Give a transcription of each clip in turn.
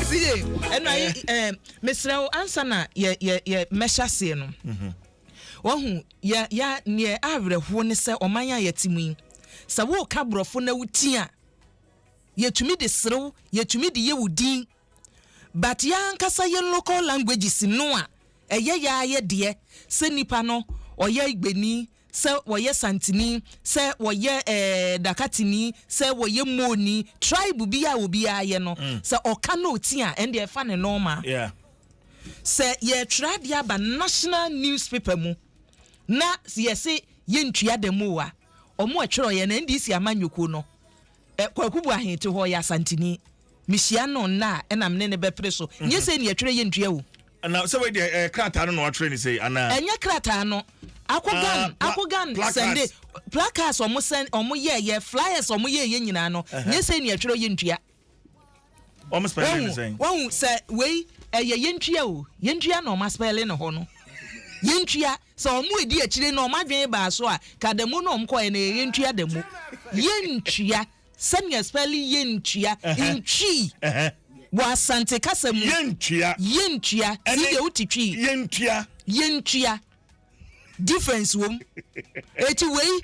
si ye ɛno ayi ɛɛ eh. eh, mesrɛ wo ansa na yɛ yɛ yɛ mɛhyɛ aseɛ no mhm. wahu yɛ yɛ neɛ awerɛhoɔ ne sɛ ɔman a yɛte mu yi sɛ woka borɔfo na woti a yɛtumi de serew yɛtumi de yɛ wo din but yɛ ankasa yɛn local languages no a ɛyɛ yɛ ayɛ deɛ sɛ nipa no ɔyɛ igbeni sɛ wɔyɛ santini, sɛ wɔyɛ eh, dakatini, sɛ wɔyɛ moni, tribe bi a obiara yɛ no, mm. sɛ ɔka na ɔti a, ɛnde ɛfa ne nɔɔma. Yeah. Sɛ yɛtwerɛ adeɛ aba national newspaper mu na yɛse yɛntua da mu a, ɔmo ɛtwerɛ yɛ no NDC ama nyoko no, kwaku bu ahete hɔ yɛ asantini. Mehyia no nna a ɛnam ne ne bɛpere so. Nyɛ sɛ ni ɛtwerɛ yɛntua o. na sɛ wei deɛ ɛyɛ eh, krataa no na watwerɛ ne sɛ anaa ɛnyɛ krataa no akogan uh, ah, akogan sɛnde placards ɔmo sɛn ɔmo yɛ yɛ flyers ɔmo yɛ yɛ nyinaa no nyɛ sɛ nea ɛtwerɛ yɛ ntua wɔn spɛlɛ ne sɛn wɔn sɛ wei ɛyɛ yɛ ntua o yɛ ntua na ɔmo aspɛlɛ ne hɔ no yɛ ntua sɛ ɔmo edi akyire na ɔmo adwene baa so a kadamu na ɔmo kɔɛ na yɛ ntua damu yɛ ntua. Sɛnea spɛlin yɛntua, ntwii, wɔ Asante kasa mu. Yɛntua. Yɛntua. Ti deɛ wote twii. Yɛntua. Yɛntua. Difference wom. Eti wei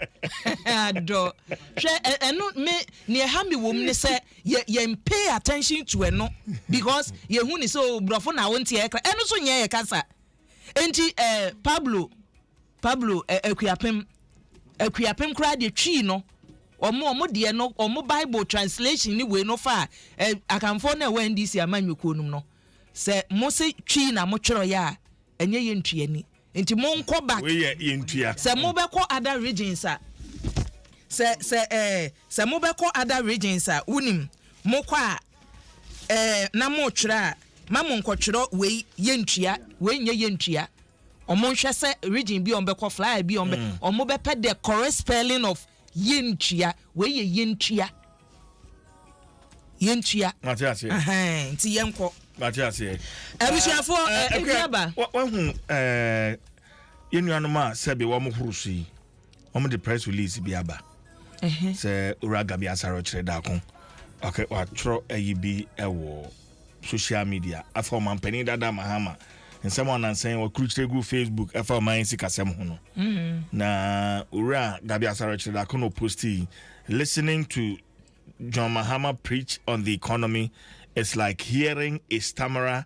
adɔ. Hwɛ ɛno me nea ɛha me wom ne sɛ yɛ yɛn pay attention to ɛno because yɛhu ne sɛ o oh, borɔfo na wonteɛ kra ɛno so nyɛ yɛ kasa. Enti eh, Pablo, Pablo, eh, Akuapem, Akuapem koraa deɛ twii no, wɔn wɔn deɛ no, wɔn Bible translation ne wei no fa a, eh, akanfoɔ no ɛwɔ NDC ama nnwokuo nom no, sɛ mo se twii na mo twerɛ yɛ a, ɛnyɛ yɛ ntua ni. Nti mo nkɔ back. Wei yɛ yɛ ntua. Sɛ mo bɛkɔ other regions a, sɛ sɛ eh, sɛ mo bɛkɔ other regions a, wunim, mo kɔ a, Ɛɛ, na moretwerɛ a, ma monkɔtwerɛ wei yɛntua, wei nyɛ yɛntua. Wɔnhwɛ sɛ region bi a wɔbɛkɔ, flyer bi a wɔbɛ, mm. wɔbɛpɛ the correct spelling of yɛntua, wei yɛ yɛntua. Yɛntua. Mate aseɛ. Ɛhɛn, nti yɛnkɔ. Mate aseɛ. Abusuafoɔ, ɛɛ, ɛkuaba. Wahu ɛɛ, yɛn nuanom a sɛbi wɔn horo so yi. wɔn de press release bi aba sɛ owura gabi asare ɔkyerɛ daako ɔkɛ watwerɛ ayi bi wɔ social media afa ɔman panyin dada mahama nsɛm a ɔnansan wɔkurukyerɛ gu facebook ɛfa ɔman sikasɛm ho no mm-hmm. na owura gabi asare ɔkyerɛ daako na ɔposti listening to john mahama preach on the economy it's like hearing a stammerer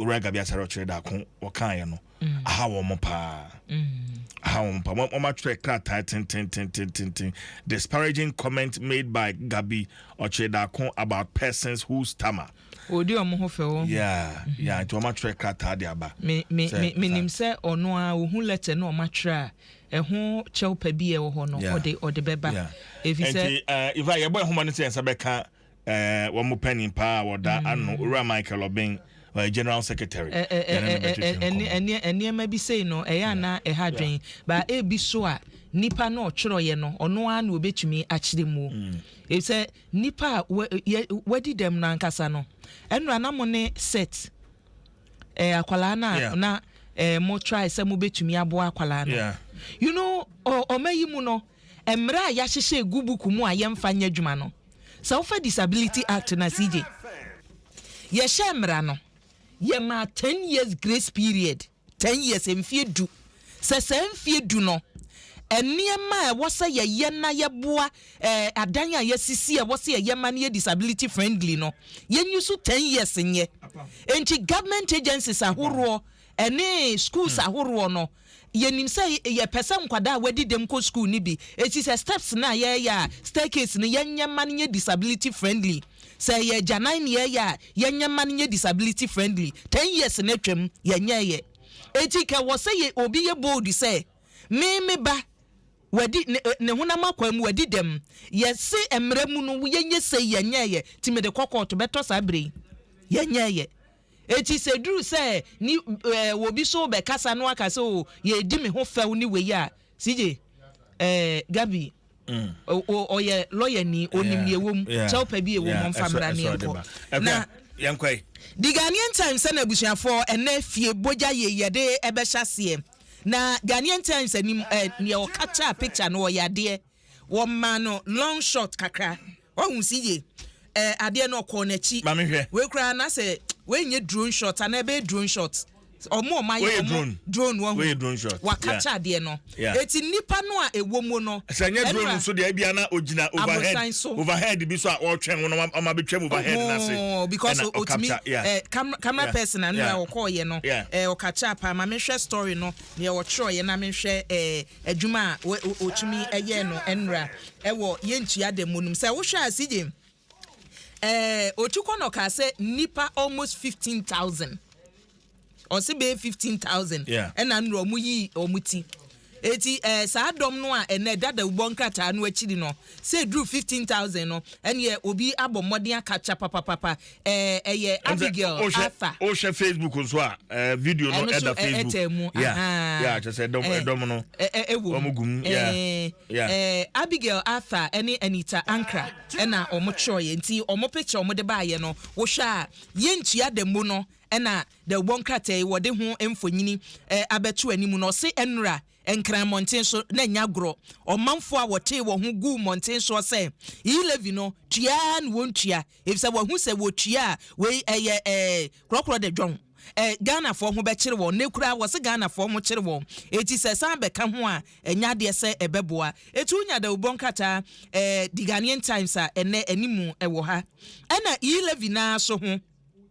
owura gabi asare ɔkyerɛ daako wɔkaeɛ no mm. aha wɔn mo paa mm. aha wɔn mo paa wɔn atwerɛ krataa tententententen disparaging comment made by gabi ɔkyerɛ daako about persons who stammer. odi wɔn ho fɛ wɔn. yaa mm-hmm. yaa nti wɔn atwerɛ krataa de aba. mi mi mi mi nim sɛ ɔno a ohun lɛtɛ na wɔn atwerɛ a ɛho kyɛw pɛ bi ɛwɔ hɔ no ɔde ɔde bɛba efi sɛ. nti uh, ifa yɛbɔ ɛhoma no sɛ nsa bɛka. Eh, wɔn panin paa a wɔda mm. ano, Owura Michael Obeng, ɔyɛ eh, general secretary. Eh, eh, yɛne no bɛtwetwe nkɔmmɔ. Nneɛma bi sei no, ɛyɛ ana ɛha adwen. Ba ebi so a, nipa no ɔtwerɛeɛ no, ɔno ara na obetumi akyerɛ mu. Mm. Efisɛ nipa a wadi dɛm no ankasa no, ɛnura na mo ne set eh, akwadaa no a na eh, mo try sɛ mo betumi aboa akwadaa no. You know, ɔma yi mu no, mmerɛ a yɛahyehyɛ egu buku mu a yɛmfa nyɛ adwuma no. Sɛ wofa Disability Act no ase gye, yɛhyɛɛ mmara no, yɛmaa ten years grace period, ten years, mfeɛ du, sɛ saa mfeɛ du no, nneɛma a ɛwɔ sɛ yɛyɛ na yɛboa eh, adan a yɛasisi a ɛwɔ sɛ yɛyɛ ma no yɛ disability friendly no, yɛnyi so ten years nyɛ. Enti government agencies ahoroɔ ɛne schools ahoroɔ no, Yɛnim sɛ yɛpɛ sɛ nkwadaa a wɔadi dɛm kɔ sukuu no bi, enti sɛ steps no a yɛreyɛ a staircase no, yɛnyɛ mma no nyɛ disability friendly. Sɛ ɛyɛ agyanan na yɛreyɛ a, yɛnyɛ mma no nyɛ disability friendly. Ten years no atwam, yɛnyɛeɛ. Enti nka ɛwɔ sɛ yɛ, obi yɛ bold sɛ, Me, me ba, wadi, ne, ne honam akwaa mu, wadi dɛm. Yɛse mmara mu no, yɛnyɛ sei, yɛnyɛeɛ. Enti mede kɔ kɔɔto, bɛtɔ saa berɛ yi, yɛnyɛeɛ. Eti sɛ duru sɛ ni eh wobi so bɛ kasa no aka sɛ oh yɛɛdi me ho fɛw ne wei a CJ eh Gabi oh ɔyɛ lawyer ni onim deɛ ɛwɔ mu kyɛw pɛ bi ɛwɔ mu ɔmfa mmra ne yɛnkɔ na The Ghanaian Times sɛ n'abusuafoɔ ɛnɛ fie bogya yei yɛde ɛbɛhyɛ aseɛ na Ghanaian Times anim eh neɛ ɔcapture picture no ɔyɛ adeɛ. Wɔmaa no long shot kakra. Wahu se ye eh adeɛ no ɔkɔɔ n'akyi. Ma me hwɛ. Wei koraa na sɛ wei nyɛ drone shot anaa ɛbɛyɛ drone shot. Ɔmo ɔmo ayɛ ɔmo drone wahu. Wei yɛ drone shot. Wa capture adeɛ no. Yeah. Eti nnipa no a ɛwɔ mu no. Sɛ ɛnyɛ drone ɛnura, nso deɛ ebia na ogyina overhead. aborosan so. Overhead bi so a ɔretwɛn wo na wam- wama betwam overhead no ase. Ohoo, because Ɛna o- otumi ɔcapture. Yeah. eh, camera, camera Yeah. person a nura Yeah. ɔkɔɔyɛ no Yeah. eh, ɔcapture paa. Ma me hwɛ story no, nea ɔtwerɛeɛ na me hwɛ eh, adwuma a wɔtumi yɛ no nnora wɔ yɛntua da mu no mu. Sɛ wohwɛ a, CJ, eh, Otukɔ no kaa sɛ nnipa almost 15,000, ɔse bɛyɛ 15,000 ɛna nnora ɔmo yi ɔmo ti. Eti eh, saa dɔm no a ɛnɛ dadawubɔ nkrataa no akyiri no, sɛ eduru 15,000 no, ɛneɛ obi abɔ mmɔden akapkya papapapa. ɛɛ ɛyɛ abigail afa. o hyɛ facebook nso a ɛɛ video no ɛda facebook ɛtɛ mu ahan ya kyɛ sɛ ɛdɔm ɛdɔm no ɛwɔ mu wɔn gum ya ya ɛɛ abigail afa ɛne anita ankara ɛna wɔn kyerɛ yɛ nti wɔn picture wɔn de ba ayɛ no wohwɛ a yɛn ntua da mu no ɛna da wɔn krataa yi wɔde ho mfonyini ɛɛ abɛto anim na ɔse ɛnura. nkran mmɔnten so na nya agorɔ ɔmanfoɔ a wɔtee wɔn ho gu mmɔnten soɔ sɛ elevi no tua na wɔn tua Efisɛ wɔahu sɛ wɔ tua a wei ɛyɛ ɛɛ korɔkorɔ de dwɔn. Ɛ Ghanafoɔ ho bɛkyere wɔn. Nnɛ koraa wɔse Ghanafoɔ ho kyere wɔn. Enti sɛ ɛsan bɛka ho a ɛnyɛ adeɛ sɛ ɛbɛboa. Eti wonya dawurubɔ nkrataa ɛɛ The Ghanaian Times a ɛnnɛ ɛne mu ɛwɔ ha. Ɛna E-levy no ara nso ho.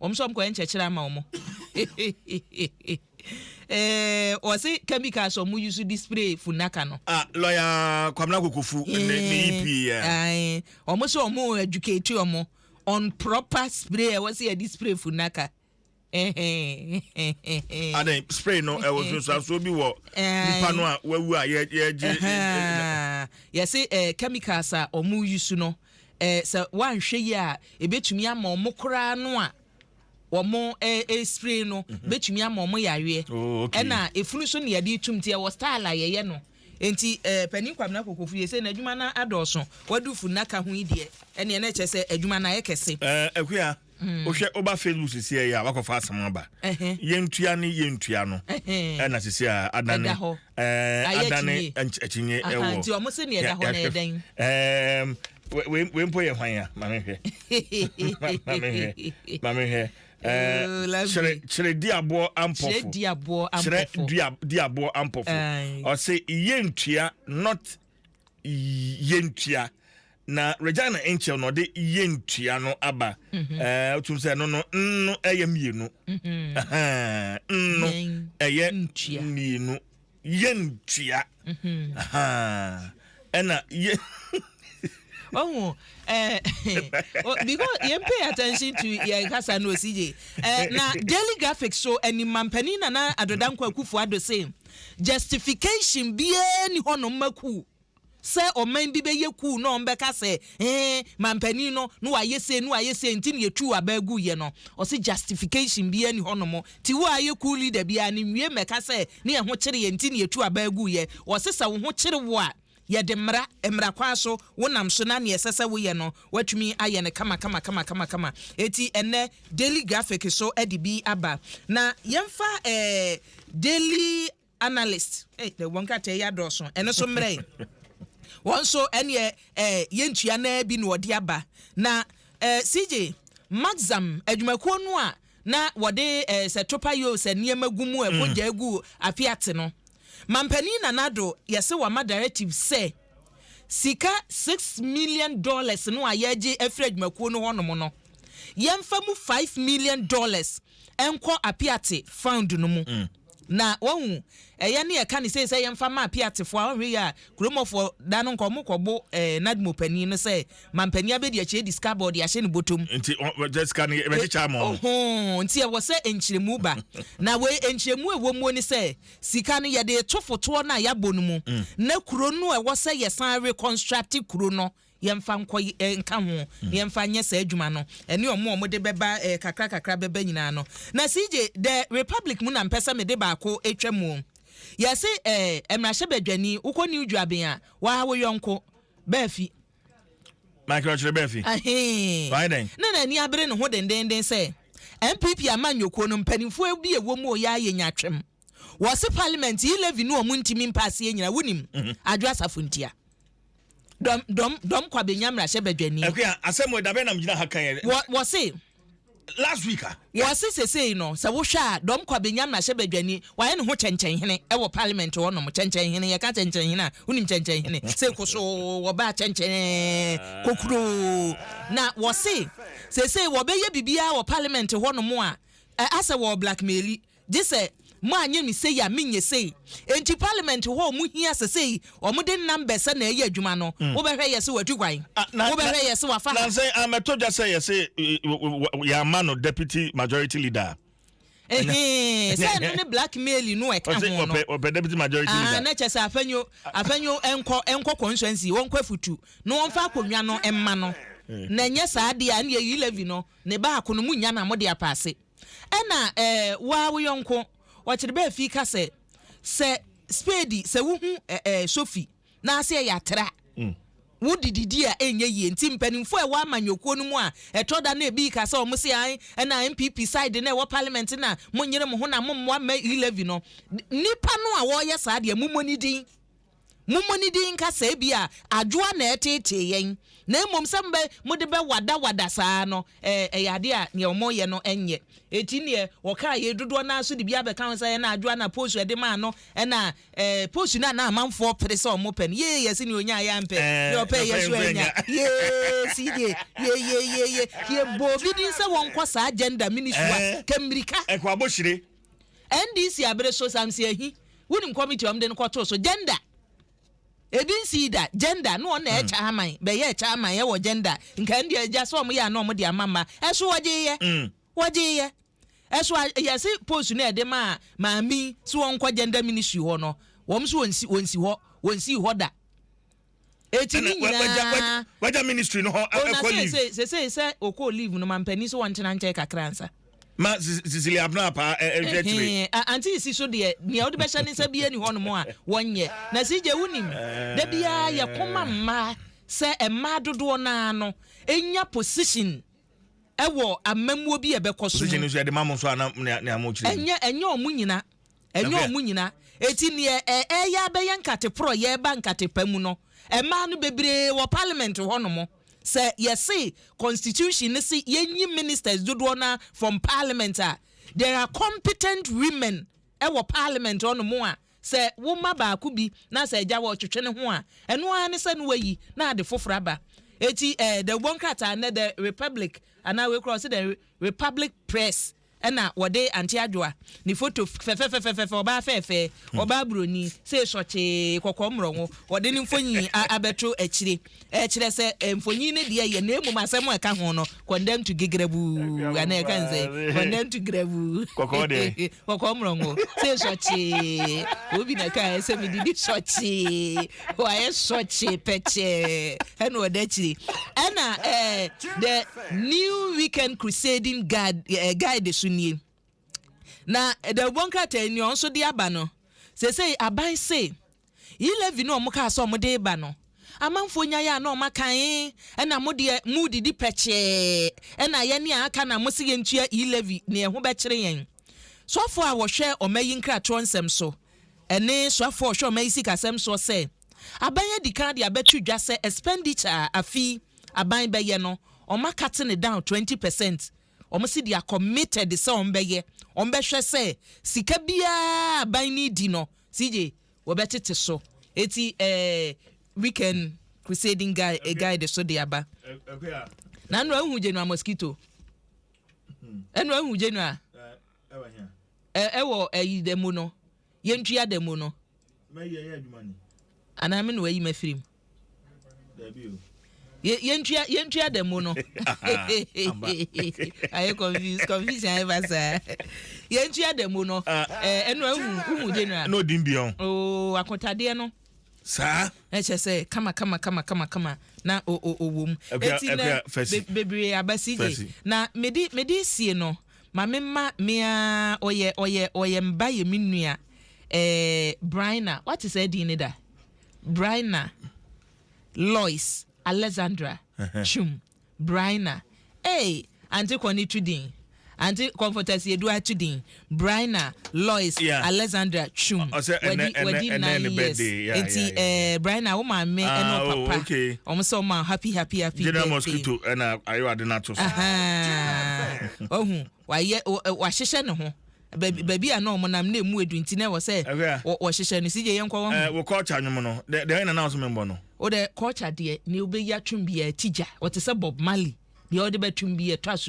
wɔn nso wɔn kɔyɛ nkyɛkyerɛ ama wɔn ɛɛ wɔsi chemicals wɔn use di spray funaka no. ah lɔya kwamina kokofu ne ne yi eh, pii yɛ. Eh, wɔn nso wɔn educate wɔn on proper spray ɛwɔ si yɛ di spray funaka. adan spray no ɛwɔ nsunsuanso bi wɔ nipa no a wawu a yɛgye. yɛsi chemicals a wɔn use no. Uh, Eh, sɛ woanhwɛ yie a, ɛbɛtumi ama wɔn koraa no a wɔn eh, eh, spray no mhm. bɛtumi ama wɔn yareɛ. Oh, okay. Ɛna efunu nso ne yɛde tum ti ɛwɔ style a yɛyɛ no. Nti eh, panin kwamina kokofu yɛ sɛ n'adwuma no adɔɔso. Wadu funu naka ho yi deɛ ɛneɛ na ɛkyɛ sɛ adwuma no ayɛ kɛse. Eh, akuya. wohwɛ woba facebook sisi ɛyɛ a wakɔfa asɛm aba yɛntua ne yɛntua no ɛna sisi a adane adane akyinnye ɛwɔ nti wɔn sɛ nea ɛda hɔ na ɛdɛn wei mpo yɛ hwan a maame hwɛ maame hwɛ maame hwɛ kyerɛ kyerɛ di aboɔ ampɔfo kyerɛ di aboɔ ampɔfo ɔsɛ yɛntua not yɛntua na regina nkyɛw na ɔde yɛntua no aba mhm. eh, wotum sɛ ɛno no nno ɛyɛ mmienu mhm. nno ɛyɛ mmienu yɛntua mhm. ɛna yɛ ɔhu eh, because yɛn pay attention to yɛn kasa no osi yie eh, na daily graphics so ɛnima mpanyin nana adodankwa kufu ado same. Justification biara nni hɔ nom ma kuu. Sɛ ɔman bi bɛyɛ kuu na wɔn bɛka sɛ ee manpanin no na wayɛ sei na wayɛ sei nti na yɛtuu abaa guiɛ no, ɔse justification biara nni hɔ nom. Ti wo a ayɛ kuu leader biara no nwie mmɛka sɛ ne yɛn ho kyere yɛn nti na yɛtu abaa guiɛ. Ɔse sɛ wo ho kyere wo a, Yɛde mmara, mmara kwan so, wonam so na nea ɛsɛ sɛ woyɛ no, woatumi ayɛ no kamakamakamakama. Enti ɛnnɛ, Daily Graphic so de bi aba. Na yɛmfa eh, Daily Analyst, eh, na wɔn krataa yi adɔɔso, ɛno so mmerɛ yi. Wɔn nso, ɛneɛ eh, yɛntua naa bi na wɔde aba. Na eh, CJ, Maxam, adwumakuo no a na wɔde eh, sɛ topa yoo sɛ nneɛma gu mu ɛbɔ gya gu afi ate no mampanin nanado yɛse wama directive sɛ sika six million dollars no a yɛgye afiri adwumakuo no hɔnom no yɛmfa mu five million dollars ɛnkɔ apiate found no mu mm. Na wahu ɛyɛ ne ɛka ne sei sɛ yɛmfa mma apiatefoɔ a ɔnhwɛ yie a kuromɔfoɔ da no nka wɔn kɔbo ɛɛ eh, nadmo panin no sɛ mampanin abɛdi akyi adi sika bɔ ɔde ahyɛ ne bɔtɔm nti wɔgya sika no yɛbɛkyekyɛ ama wɔn ohoo nti ɛwɔ sɛ nkyerɛmu ba na wei nkyerɛmu ɛwɔ muo ne sɛ sika no yɛde to fotoɔ no a yɛabɔ no mu mm. na kuro no ɛwɔ sɛ yɛsan reconstruct kuro no yɛmfa nkɔ y nka ho, na yɛmfa nyɛ saa adwuma no, ɛne wɔn a wɔde bɛba eh, kakra kakra bɛba nyinaa no. Na CJ, dɛ Republic mu na mpɛ sɛ mede baako twa mu o. Yɛse eh, mmarahyɛbadwani, wokɔ New Juaben a, woaha wo yɔnko, Baafi. Michael Ɔkyere Baafi. Ahee. Wayɛ dɛn? Na n'ani abere ne ho dendeenden sɛ, NPP amanyɔkuo no, mpanimfoɔ bi a ɛwɔ mu o, yɛa yɛnya twam. wɔ se parliament yi levy no ɔmo ntimi mpa aseɛ nyina wo nim adwo asafo ntia dɔm dɔm dɔm kwa bɛnya mmarahyɛ badwani ɛkua asɛm wɔ dabɛ nam gyina ha kan yɛ wɔ wɔ se last week a wɔ se sesei no sɛ wohwɛ a dɔm kwa bɛnya mmarahyɛ badwani wayɛ ne ho kyɛnkyɛn hene ɛwɔ parliament hɔ nom kyɛnkyɛn hene yɛka kyɛnkyɛn hene a wonim kyɛnkyɛn hene sɛ koso wɔbaa kyɛnkyɛn kokuro na wɔ se sesei wɔbɛyɛ biribiara wɔ parliament hɔ nom a asɛ wɔ blackmaili Gyesɛ mo anyɛ me sei a menyɛ sei. Enti parliament hɔ a ɔmo hia sɛ sei ɔmo de numbers na ɛyɛ adwuma no, wo bɛhwɛ yɛse watu kwan, wo bɛhwɛ yɛse wafa ha. Nansa yi ammɛtɔ dwa sɛ yɛse yɛamma no deputy majority leader a. Ɛhee, sɛ ɛno ne black mail no a ɛka ho no. Ɔpɛ deputy majority leader. Ahaa, na kyɛ sɛ Afenyo, Afenyo nkɔ, nkɔ constituency, ɔnkɔ afutu na ɔmfa akonnwa no mma no. Na ɛnyɛ saa deɛ a ɛneɛ Yi-Levy no, ne baako no monnya no a mode apaase. Ɛna ɛɛ woa wo yɔnko ɔkyere bɛ fi ka sɛ sɛ spade sɛ wohu ɛɛ sofi n'aseɛ yɛ atra mm. wo de didi a ɛnyɛ yie nti mpanimfoɔ ɛwɔ amanyɔkuo no mu a ɛtɔ da na ebi ka sɛ wɔn se an ɛna npp side na ɛwɔ parliament na mo nyere mo ho na mo mmoa mma elevi no nipa no a wɔyɛ saa deɛ mo mmɔ ne din. Mommɔ ne din nka sɛ ebia adwoa na ɛreteetee yɛn, na mmom sɛ mobɛ, mode bɛwadawada saa no, ɛ, ɛyɛ ade a nea wɔyɛ no nyɛ. Enti neɛ wɔkaa yei dodoɔ no ara so de bi abɛka ho sɛ, Ɛna adwoa na Posu ɛde maa no, ɛna, ɛ, Posu no a na amanfoɔ pere sɛ wɔpɛ no, yee, yɛse nea ɔnyaeɛ ampɛ, nea ɔpɛeɛ nso annya. Yee, see deɛ, yee, yee, yee, yee, yɛbɔɔ bi din sɛ wɔnkɔ saa gender ministry hɔ a, kɛ mmirika. Ɛkɔ abohyire NDC abere so samsi ahi wonim committee ɔmde no kɔtoo so gender ebi nsii da gender no ɔna ɛkyɛ mm. aman bɛyɛ ɛkyɛ aman ɛwɔ gender nka ɛnde agya sɛ ɔmo yɛ ana ɔmo de ama mma ɛso wɔgye yɛ mm. wɔgye yɛ ɛso yɛse post no ɛde maa maame so wɔnkɔ gender ministry hɔ no wɔn so wɔnsi wɔnsi hɔ wɔnsi hɔ da Eti ne nyinaa. Wagya wagya wagya ministry no hɔ ɛkɔ leave. Sese sese sɛ okɔ leave no ma mpanyin so wɔn ntena nkyɛn kakra nsa. Ma Cecilia Abena paa ɛhwɛ akyire. Anti si so deɛ nea ɔde bɛhyɛ ne nsa bi ani hɔ nom a wɔnyɛ na si gye wunim da biara yɛ kɔma mmaa sɛ mmaa dodoɔ naa no enya position ɛwɔ amamuo bi a ɛbɛkɔ so mu. Position nso yɛde ma mo nso a na nea mo kyerɛ. Ɛnyɛ ɛnyɛ wɔn nyinaa. Ɛnyɛ wɔn nyinaa. Enti nea ɛreyɛ abɛyɛ nkate porɔyɛ ba nkate pa mu no, mmaa no bebree wɔ parliament hɔnom. Sɛ yɛse constitution no se yɛnyi ministers dodoɔ no ara from parliament a, there are competent women wɔ parliament hɔnom a sɛ woma baako bi na sɛ agya hɔ twetwe ne ho a, ɛno ara ne sɛ na wayi na ade foforɔ aba. Eti eh, the Ubon Krataa nɛ the Republic anaa wei koraa ɔsɛ the Republic Press Ɛna wɔde Aunty Adwoa ne photo fɛfɛfɛfɛfɛ, ɔbaa fɛɛfɛɛ, ɔbaa buroni, sei sɔkyee, kɔkɔɔ mmorɔnwo, wɔde ne mfonyin a abɛto akyire. Ɛkyerɛ sɛ mfonyin no deɛ yɛ na mmom asɛm a ɛka ho no, condemned to gigrabuu, anaa ɛka ne sɛn? Condemned to grabuu, Kɔkɔɔ deɛ? kɔkɔɔ mmorɔnwo, sei sɔkyee, obi na ɛkaeɛ sɛ medidi sɔkyee. Wayɛ sɔkyee pɛkyɛɛ ɛna ɔda akyiri. Ɛna ɛɛ the new weekend crusading guide ɛɛ eh, guide so nie. Na ɛdawubɔ nkrataa ni ɔnso de aba no. Sese aban se elevi no ɔmo kaa sɛ ɔmo de ba no. Amanfoɔ nyaeɛ a na ɔmo akan ɛna mo deɛ mo didi pɛkyɛɛ ɛna yɛ ne a aka na mo se yɛntua elevi ne ɛho bɛkyere yɛn. Sɔfo a wɔhwɛ ɔma yi nkratoɔ nsɛm so Ɛne soafoɔ a ɔhwɛ ɔman yi sikasɛm soɔ sɛ, aban adi kan de abɛto dwa sɛ expenditure a afi aban bɛyɛ no, wɔma cutting it down twenty percent. Wɔn se they are committed sɛ wɔn bɛyɛ, wɔn bɛhwɛ sɛ sika biara a aban no redi no, CJ, wɔbɛtete so. Eti eh, weekend crusading guide, eh, guide so de aba. Na ɛno ahu General Mosquito. Ɛno ahu General. Ɛwɔ hea? Ɛ, ɛwɔ ayi da mu no, yɛntua da mu no. Mɛyi ɛyɛ adwuma ni. Anaa me na wayi m'afiri mu? Daabi o. Yɛ, yɛntua, yɛntua da mu no. Ayɛ confuse, confusion ayɛ ba saa. Yɛntua da mu no. Ah. Ɛ, ɛno ahu, uhu general. Ɛna ɔdi mbia o. Oo, akotadeɛ no. Saa. Ɛkyɛ sɛ, kama, kama, kama, kama, kama, na o, o, ɔwɔ mu. Ɛkuya, ɛkuya fɛsi. Be, bebree aba CJ. Fɛsi. Na mede, mede sie no. Ma me mma me aa ɔyɛ ɔyɛ ɔyɛ mba yɛ me nua ɛɛ Bryna wate saa din no da Bryna Lois Alexandra Twum Bryna eei ante kɔne tu din ante kɔmfɔtaseɛdu a tu din Bryna Lois Alexandra Twum wadi wadi nine years nti ɛɛ Brina wo maame ɛna ah, wo papa wɔn oh, sɛ wɔn ma happy happy happy birthday. General mosquito ɛna ayo ade na to so. Ɔhu wayɛ wahyehyɛ ne ho baabi a na wɔn nam na emu edu nti na ɛwɔ sɛ wɔhyehyɛ no sigye yɛn kɔ wɔn ho. Eh, wɔ culture nwom no deɛ ɛyɛ nana nso mi mbɔ no. o de culture deɛ ni o bɛ yi atwom bi yɛ ti gya wɔte sɛ Bob Marley deɛ ɔde bɛ twom bi yɛ to aso.